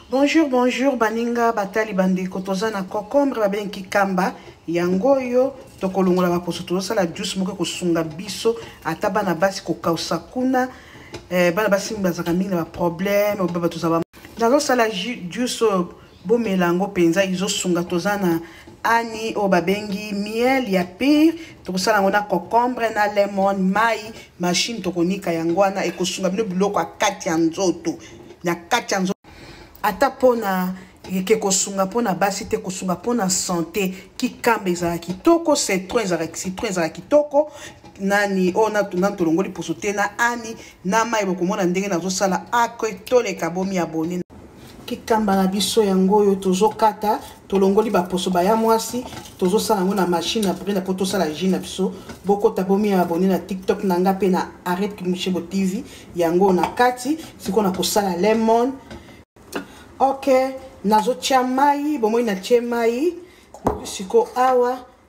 bonjour bonjour baninga batali bandeko toza na cocombre babengi kamba yango oyo tokolongola baposo tozosala juice moko ekosunga biso ata bana basi kokausa kuna eh, bana basi bazalaka mingi na baproblème oyo baba tozaba nazosala juice oyo bomela yango mpenza izosunga toza na ani oyo babengi miel ya pire tokosala yango na cocombre na lemon mai mashine tokonika yango wana ekosunga bino biloko ya kati ya nzoto na kati ya nzoto ata mpona eke kosunga mpona basi te kosunga mpona sante kikamba ezala kitoko citron ezala citron ezala kitoko nani oyo natuna tolongoli poso te na ani na mai bokomona ndenge nazosala ake toleka bomi abone kikamba na biso yango oyo tozokata tolongoli baposo baya mwasi tozosala yango na machine ya brina mpo tosala jus na biso bokota bomi ya abone na tiktok na nga mpe na arret kimushebo tv yango oyo na kati sikoyo na kosala lemon ok nazotya mai bomoi natye mai sikoyo awa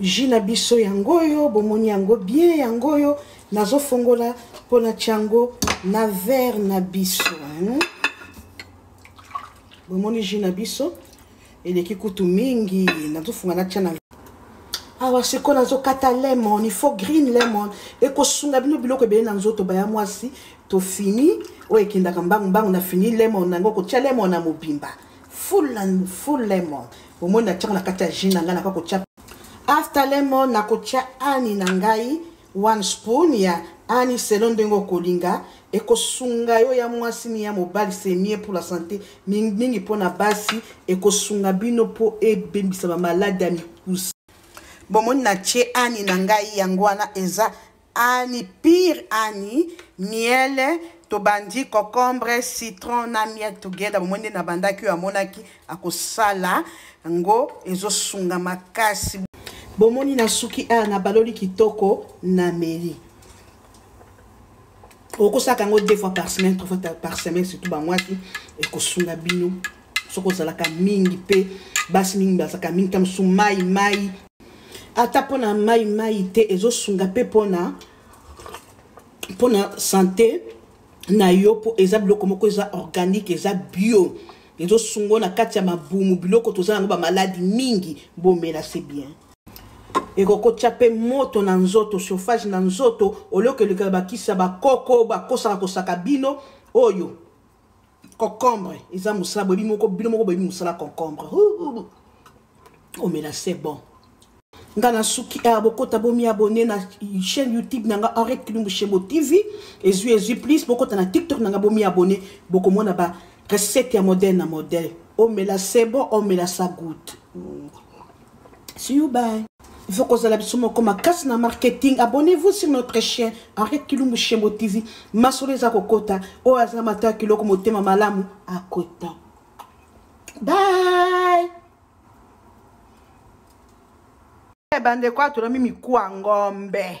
Jus na biso yango oyo bomoni yango bien yango oyo nazofongola mpo natya yango na verre na biso hein? bomoni jus na biso eleki kutu mingi nazofunga natya na awa sikoyo nazokata lemon il faut green lemon ekosunga bino biloko ebele na nzoto baya mwasi tofini oyo ekendaka mbangu mbangu na fini lemon na yango kotya lemon na mobimba full and full lemon omoni natiango na kati ya jus na ngai naka kotya after lemon nakotya ani na ngai one spoon ya ani selo ndenge okolinga ekosunga yo ya mwasi ni ya mobali c'est mieux pour la santé mingimingi mpo na basi ekosunga bino mpo ebebisa bamaladi ya mikuse bomoni na tie ani na ngai yango wana eza Annie pire Annie miele tobandi cocombre citron na miel together bomoi nde nabandaki oyo amonaki akosala yango ezosunga makasi bomoni nasuki awa nabaloli kitoko nameli okosaka yango deux fois par semaine trois fois par semaine surtout bamwasi ekosunga bino soki ozalaka mingi mpe basi mingi bazalaka mingi ta mosusu mai mai ata mpo na mai mai te ezosunga mpe mpona mpona sante na yo mpo eza biloko moko eza organique eza bio ezosungo na kati ya mabumu biloko toza yango bamaladi mingi bomela se bien ekokotya mpe moto na nzoto chauffage na nzoto oliokelekela bakisa bakoko bakosaka kosaka bino oyo concombre eza mosala boyebi moko bino moko boyebi mosala concombre omela c'est bon nga nasuki awa ah, bokota bomiabone na chaîne youtube na nga henriette kilumbu shembo tv ezwi ezwi plus bokota na tiktok na nga bomiabone bokomona ba recette ya modèle na modèle omela c'est bon omela sa goute see you bye il faut kozala biso moko makasi na marketing abonnez-vous sur notre chaîne henri kilumbu shembo tv masolo eza kokota oyo aza mata ya kiloko motema malamu akota bye bandeko atolami mikuwa ngombe